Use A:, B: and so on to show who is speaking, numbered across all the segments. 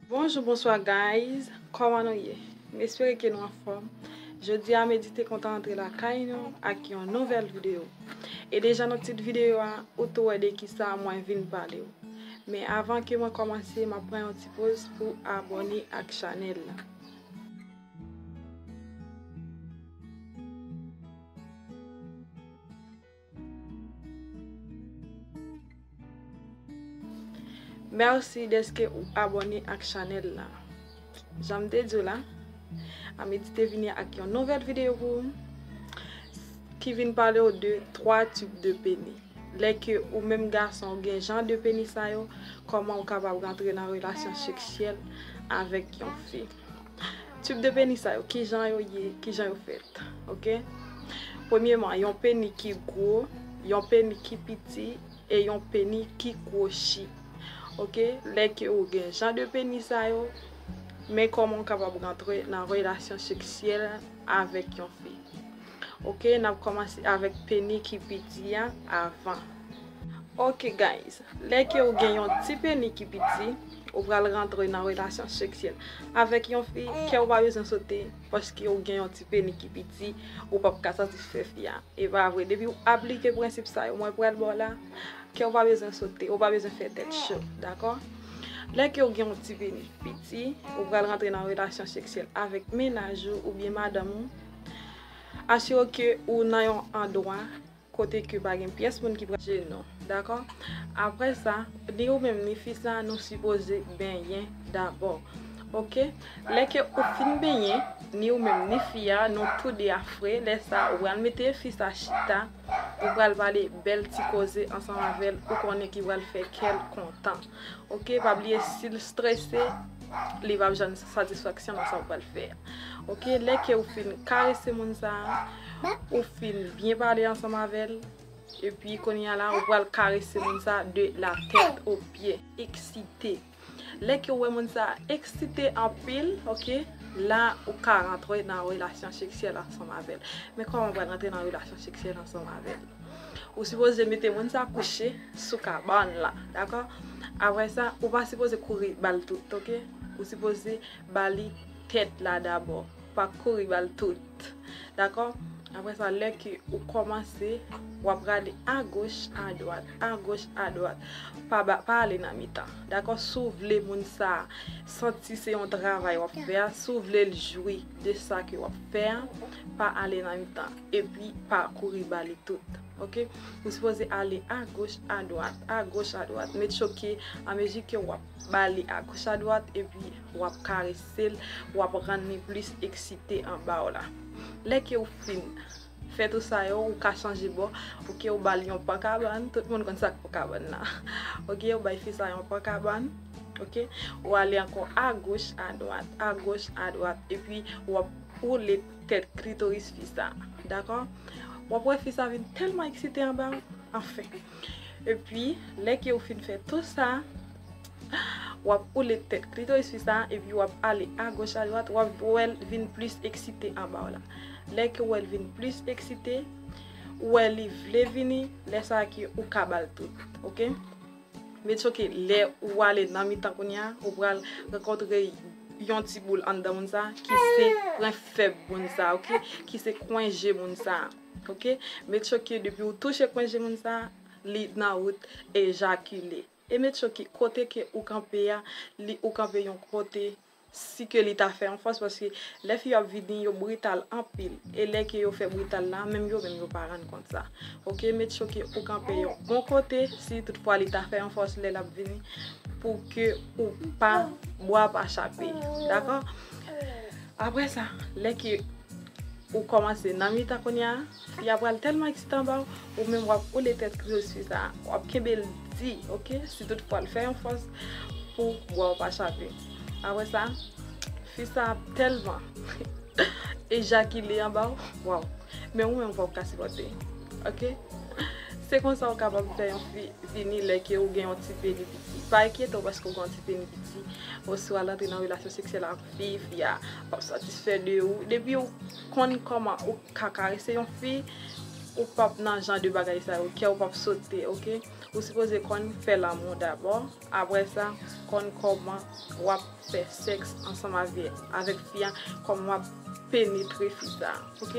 A: Bonjou bonswa guys kòman nou ye m espere ke nou anfòm jodi a medi te kontan antre lakay nou ak yon nouvèl videyo e deja nan tit videyo a ou tou wè de kisa mwen vin pale ou men avan ke mwen kòmanse m ap pran yon ti poz pou abòne ak chanèl la. Merci deske ou abone ak chanel la. Janm te di w la, Amedy te vini ak yon nouvèl videyo pou ou ki vin pale ou de 3 tip de peni. Lè ke ou menm gason ou gen jan de peni sa yo, kòman ou kapab rantre nan relasyon seksyèl avèk yon fi. Tube de peni sa yo kijan yo ye, kijan yo fèt ok premyeman yon peni ki gwo, yon peni ki piti e yon peni ki kwochi ok lè ke ou gen jan de peni sa yo men kòman ou kapab rantre nan relasyon seksyèl avèk yon fi. Ok nap komanse avek peni ki piti a avan. Ok guys lè ke ou gen yon ti peni ki piti ou pral rantre nan relasyon seksyèl avek yon fi kèw pa bezwen sote paske ou gen yon ti peni ki piti ou pap ka satisfè fi a epa vre depiw aplike prensip sa yo mwen pral baw la kèw pa bezwen sote ou pa bezwen fè tèt cho dakò lè kew gen yon ti peni piti ou pral rantre nan relasyon seksyèl avek mennaj ou oubyen madanm ou. Asire w ke ou nan yon andwa kote ke pa gen pyès moun ki pral jere nou. Dakò? Apre sa, ni ou menm ni fi sa a nou sipoze benyen dabò. Ok? Lè ke ou fin benyen, ni ou menm ni fi a, nou tou de a fre, lè sa a ou pral mete fi sa a chita, ou pral pale bèl ti koze ansanm avè l ou konnen ki pral fè kè l kontan. Ok pa bliye sil strese li pap janm satisfaksyon nan sa ou pral fè ok lè ke ou fin karese moun sa ou fin byen pale ansanm avèl epi konya la ou pral karese moun sa de la tèt o pye eksite lè ke ou wè moun sa eksite anpil ok la ou ka rantre nan relasyon seksyèl ansanm avèl men kòman ou pral rantre nan relasyon seksyèl ansanm avèl. Ou sipoze mete moun sa kouche sou kabann la dakò aprè sa ou pa sipoze kouri bal tout ok ou sipoze bali tèt la dabò pa kouri bal tout dakò aprè sa lè ke ou kòmanse wap rale agoch adwat agoch adwat pa ale nan mitan dakò si w vle moun sa santi se yon travay wap fè a si w vle l jwi de sa ke wap fè a pa ale nan mitan. Epi pa kouri ba li tout. Ok. Ou sipoze ale a goch, a dwat, a goch, a dwat. Met cho ke a mezi ke wap ba li a goch, a dwat, epi wap karese l, wap rann li plis eksite anba w la. Lè ke ou fin fè tou sa yo, ou ka chanje bò. Ok. Ou ba li yon pan kabann. Tout moun konn sak pan kabann la. Ok. Ou bay fi sa yon pan kabann. Ok. Ou ale ankò a goch, a dwat, a goch, a dwat. Epi wap woule Tèt klitoris fi sa. Dakò? Wap wè fi sa vin tèlman eksite anba ou. Anfen. Epi, lè ke ou fin fè tou sa, wap oule tèt klitoris fi sa epi wap ale a goch a dwat, wap wèl vin plis eksite anba ou la. Lè ke ou wèl vin plis eksite, ou wè li vle vini, lè sa ke ou ka bal tou. Ok? Men it's ok lè ou ale nan mitan kounya ou pral rankontre yon ti boul anndan moun sa ki se pwen fèb moun sa ok ki se kwen je moun sa ok men it's ok depi ou touche kwen je moun sa li nan wout ejakile e men it's ok kote ke ou kanpe a li ou kanpe yon kote. si ke li ta fè yon fòs paske lè fi yo ap vini yo brital anpil e lè ke yo fè brital la menm yo menm yo pa rann kont sa ok met choky ou kanpe yon bon kote si tout fwa li ta fè yon fòs lè lap vini pou ke ou pa bwa pa chape dakò apre sa lè ke ou kòmanse nan mitan kounya. Fi a pral tèlman eksite anba w, ou menm wap woule tèt li sou fi sa, wap kenbe l di ok, si tout fwa l fè yon fòs pou bwa w pa chape. Aprè sa, fi sa ap tèlman ejakile anba w, waw, men ou menm fòk w ka sipòte ok. Se konsa w kapab fè yon fi vini lè ke ou gen yon ti peni piti. Pa enkyete w paske ou gen yon ti peni piti, oswa l antre nan relasyon seksyèl ak fi, fi a pap satisfè de ou, depi ou konn kòman ou. ka karese yon fi ou pap nan jan de bagay sa yo kèw pap sote ok ou sipoze konn fè lanmou dabò aprè sa konn kòman wap fè sèks ansanm avèk fi a kòman wap penetre fi sa ok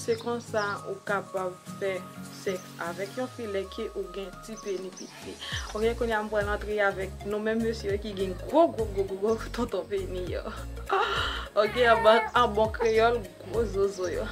A: se konsa ou kapab fè sèks avèk yon fi lè ke ou gen ti peni piti ok kounya m pral antre avèk nou menm mesye yo ki gen gwo gwo gwo gwo gwo tonton peni yo ok an bon kreyòl. Gwo zozo yo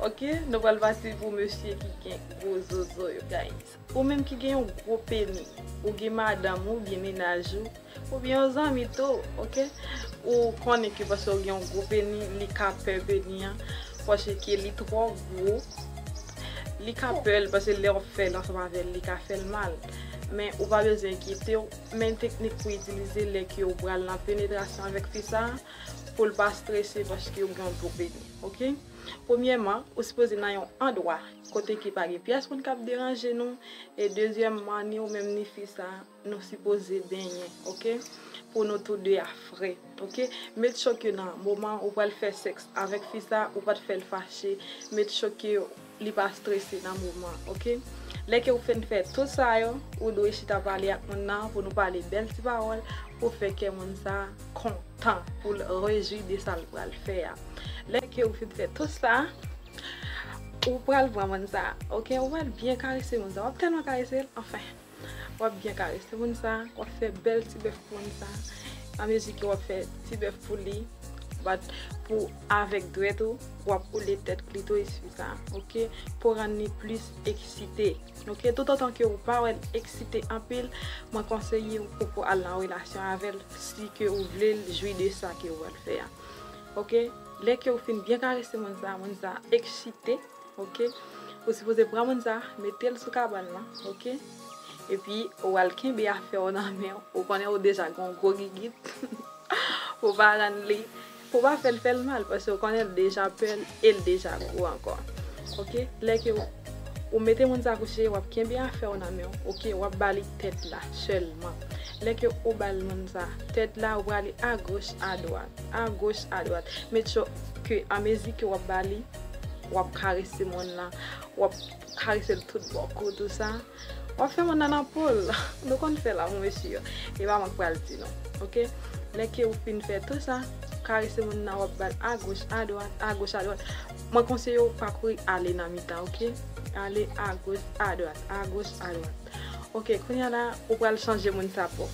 A: Ok nou pral pase pou mesye ki gen gwo zozo yo guys Ou menm ki gen yon gwo peni ou gen madanm ou byen mennaj ou Ou byen yon zanmi tou ok Ou konnen ke paske ou gen yon gwo peni li ka pè peni an Paske ke li twò gwo Li ka pè l paske lè ou fèl ansanm avè l li ka fè l mal Men ou pa bezwen enkyetew Men teknik pou itilize lè ke ou pral nan penetrasyon avèk fi sa pou l pa strese paske yo gen yon dlo beny ok premyèman ou sipoze nan yon andwa kote ki pa gen pyès moun kap deranje nou e dezyèmman ni ou menm ni fi sa nou sipoze benyen ok pou nou tou 2 a fre ok met cho ke nan moman ou pral fè sèks avèk fi sa ou pat fèl fache met cho ke li pa strese nan moman an ok lè ke ou finn fè tout sa yo ou dwe chita pale ak moun nan pou nou pale bèl ti pawòl pou fè kè moun sa kontan poul rejwi de sal pral fè a lè ke ou finn fè tout sa ou pral pran moun sa ok ou pral byen karese moun sa wap tèlman karesel anfen. wap byen karese moun sa, wap fè bèl ti bèf pou moun sa, a mezi ke wap fè ti bèf pou li, bat pou avèk dwèt ou, wap oule tèt klitoris fi sa, ok, pou rann li plis eksite, ok, tout otan ke ou pa wèl eksite anpil, mwen konseye ou poko al nan relasyon avèl, si ke ou vle l jwi de sa ke ou wèl fè a, ok, lè ke ou fin byen karese moun sa, moun sa eksite. Ok ou sipoze pran moun sa metel sou kabann lan ok epi ou al kenbe afèw nan menw ou konnen ou deja gen yon gwo gigit pou pa rann li pou pa fèl fèl mal paske ou konnen li deja pèl el deja gwo ankò ok lè ke ou mete moun sa kouche wap kenbe afèw nan menw ok wap bali tèt la sèlman lè ke ou bal moun sa tèt la ou prale agoch adwat agoch adwat make sure ke anmezi ke wap bali. wap karese moun lan, wap karese l tout bò kou tout sa, wap fè moun nan nan po l, nou konn fè lanmou mesye yo, e pa mwen k pral di nou, ok, lè ke ou fin fè tout sa, karese moun nan wap bal a goch a dwat, a goch a dwat, mwen konseye ou pa kouri ale nan mitan ok, ale a goch a dwat, a goch a dwat, ok, kounya la ou pral chanje moun sa po,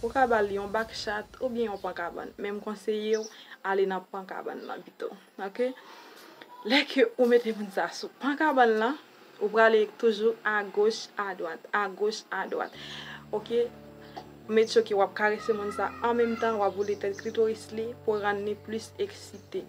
A: ou ka bal yon bak chat oubyen yon pan kabann, men m konseye ou ale nan pan kabann lan pito. Ok lè ke ou mete moun sa sou pan kabann lan ou prale toujou agoch adwat agoch adwat ok ou met ok wap karese moun sa an menm tan wap boule tèt klitoris li pou rann li plis eksite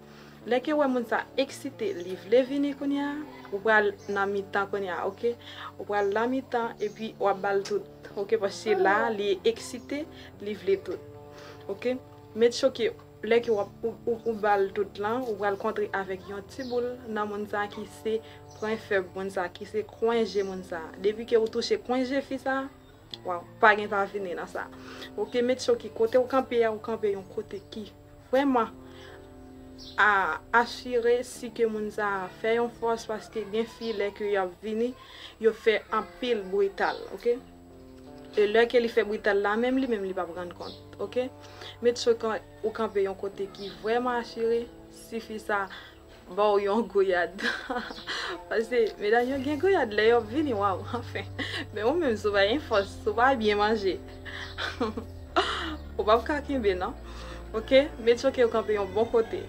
A: lè ke ou wè moun sa eksite li vle vini kounye a ou pral nan mitan kounye a ok ou pral nan mitan epi wap bal tout ok paske la li eksite li vle tout ok met ok. Lè ke wap ou bal tout lan ou pral kontre avèk yon ti boul nan moun sa ki se pwen fèb moun sa ki se kwen je moun sa depi ke ou touche kwen je fi sa waw pa gen pa vini nan sa ok met sho ki kotew kanpe a ou kanpe yon kote ki vrèman a asire si ke moun sa fè yon fòs paske gen fi lè ke yap vini yo fè anpil brital ok. E lè ke li fè brital la menm li menm li pap rann kont ok met sou kan ou kanpe yon kote ki vrèman asire si fi sa baw yon gouyad pase medam yo gen gouyad lè yo ap vini waw anfen men ou menm si w pa gen fòs si w pa byen manje ou pap ka kenbe nan ok met sou ke ou kanpe yon bon kote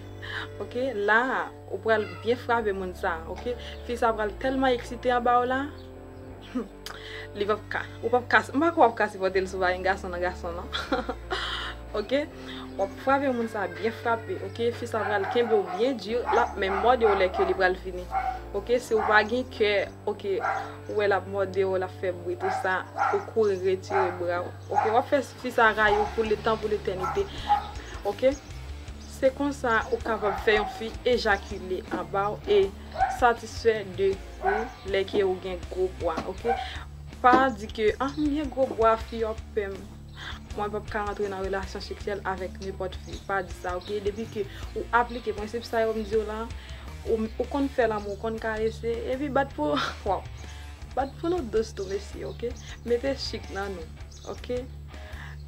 A: ok la ou pral byen frape moun sa ok fi sa pral tèlman eksite anba w la humm. Li pap ka. Ou pap ka. M pa kwè w ap ka sipòte l sou vagin gason nan gason non. Ok. W ap frape moun sa byen frape. Ok. Fi sa pral kenbe w byen di. L ap menm mòde w lè ke li pral fini. Ok. Si w pa gen kè. Ok. Ou wè l ap mòde w, l ap fè bri tou sa. Ou kouri retire bra w. Ok. W ap fè fi sa rayi w pou letan pou letènite. Ok. Se konsa ou kapab fè yon fi ejakile anba w e. satisfè de ou lè ke ou gen gwo bwa ok pa di ke ah m gen gwo bwa fi yo ap pè m mwen pap ka antre nan relasyon seksyèl avèk nenpòt fi pa di sa ok depi ke ou aplike prensip sa yo m diw la ou konn fè lanmou ou konn karese epi bat pou waw bat pou nou dous tou mesye ok mete chik nan nou. Ok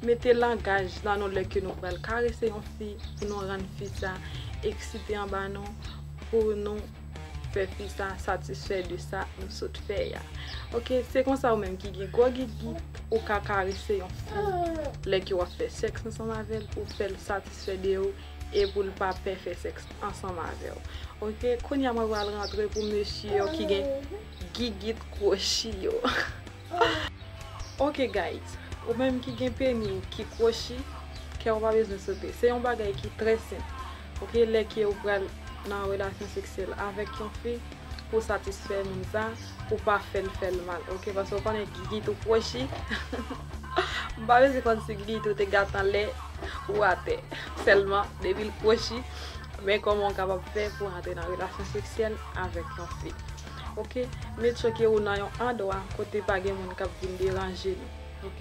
A: Mete langaj nan nou lè ke nou pral karese yon fi pou nou rann fi sa eksite anba nou pou nou fè fi sa satisfè de sa nou sot fè a. Ok Se konsa ou menm ki gen gwo gitgit ou ka karese yon fi lè ke w ap fè sèks ansanm avè l pou w fè l satisfè de ou e pou l pa pè fè sèks ansanm avè w. Ok Kounye a mwen pral rantre pou mesye yo ki gen gigit kwochi yo. Ok guys ou menm ki gen peni ou ki kwochi kè ou pa bezwen sote se yon bagay ki trè senp ok lè ke ou pral nan relasyon seksyèl avèk yon fi pou satisfè moun sa ou pa fèl fèl mal ok paske ou konnen gigit ou kwochi m pa bezwen konn si gigit ou te gate anlè ou atè sèlman depi l kwochi men kòman ou kapab fè pou antre nan relasyon seksyèl avèk yon fi. ok met choke ou nan yon andwa kote pa gen moun kap vin deranje nou ok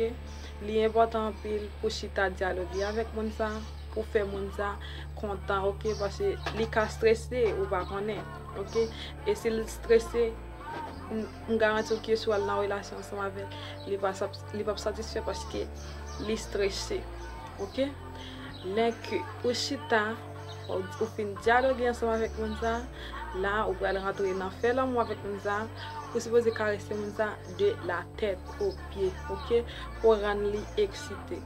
A: li enpòtan anpil pou chita dyaloge avèk moun sa pou fè moun sa kontan ok pase li ka strese ou pa konnen ok e sil strese m garanti w ke si w al nan relasyon ansanm avèl li pap satisfè paske li strese ok lè ke ou chita Ou fin dyaloge ansanm avèk moun sa, la ou pral rantre nan fè lanmou avèk moun sa, ou sipoze karese moun sa de la tèt o pye ok, pou w rann li eksite.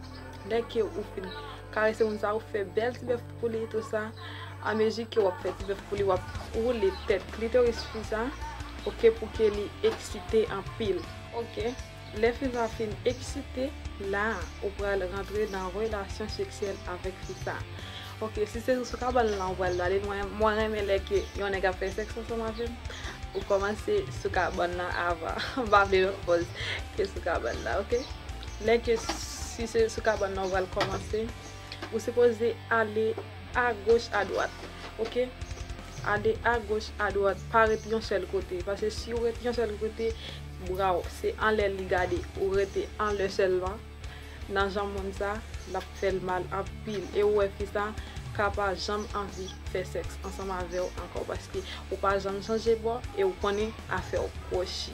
A: Lè ke ou fin karese moun sa ou fè bèl ti bèf pou li tou sa, a mezi ke wap fè ti bèf pou li wap woule tèt klitoris fi sa ok pou ke li eksite anpil ok. Lè fi sa fin eksite, la ou pral rantre nan relasyon seksyèl avèk fi sa. Ok, si se sou kabann lan ou pral bale, mwen renmen lè ke yon nèg ap fè sèks ansanm avèm, ou kòmanse sou kabann lan avan. M pa vle menm pòz ke sou kabann lan, ok. Lè ke si se sou kabann lan ou pral kòmanse, ou sipoze ale. A goch a dwat ok. Ade a goch a dwat pa ret yon sèl kote pase siw ret yon sèl kote braw se anlè li gade ou rete anlè sèlman nan jan moun sa lap fèl mal anpil e ou wè fi sa ka pa janm anvi fè sèks ansanm avèw ankò paske ou pa janm chanje bò e ou konnen afèw kwochi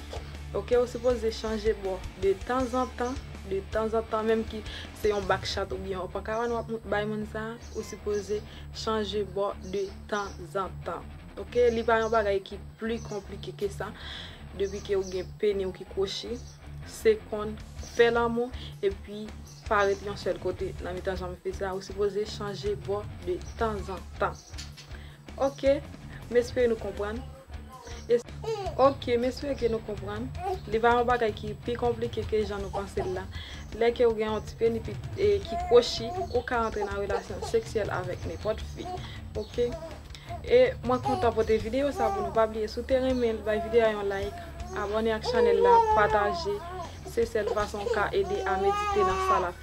A: ok ou sipoze chanje bò de tanzantan de tanzantan menm ki Se yon back chat ou byen yon pankawan wap bay moun sa ou sipoze chanje bò de tan zan tan ok li pa yon bagay ki pli konplike ke sa depi ke ou gen peni ou ki kwochi se konn fè lanmou epi pa ret yon sèl kote nan mitan janm fè sa ou sipoze chanje bò de tan zan tan. Ok, m espere nou konprann. Ok, m espere ke nou konprann. Li va yon bagay ki pi konplike ke jan nou panse l la. Lè ke ou gen yon ti peni ki kwochi, ou ka antre nan relasyon seksyèl avèk nenpòt fi. Ok. E mwen kontan pote videyo sa pou nou. Pa bliye, si w te renmen l, bay videyo a yon like, abòne ak chanèl la, pataje. Se sèl fason ou ka ede a medite nan sa l ap.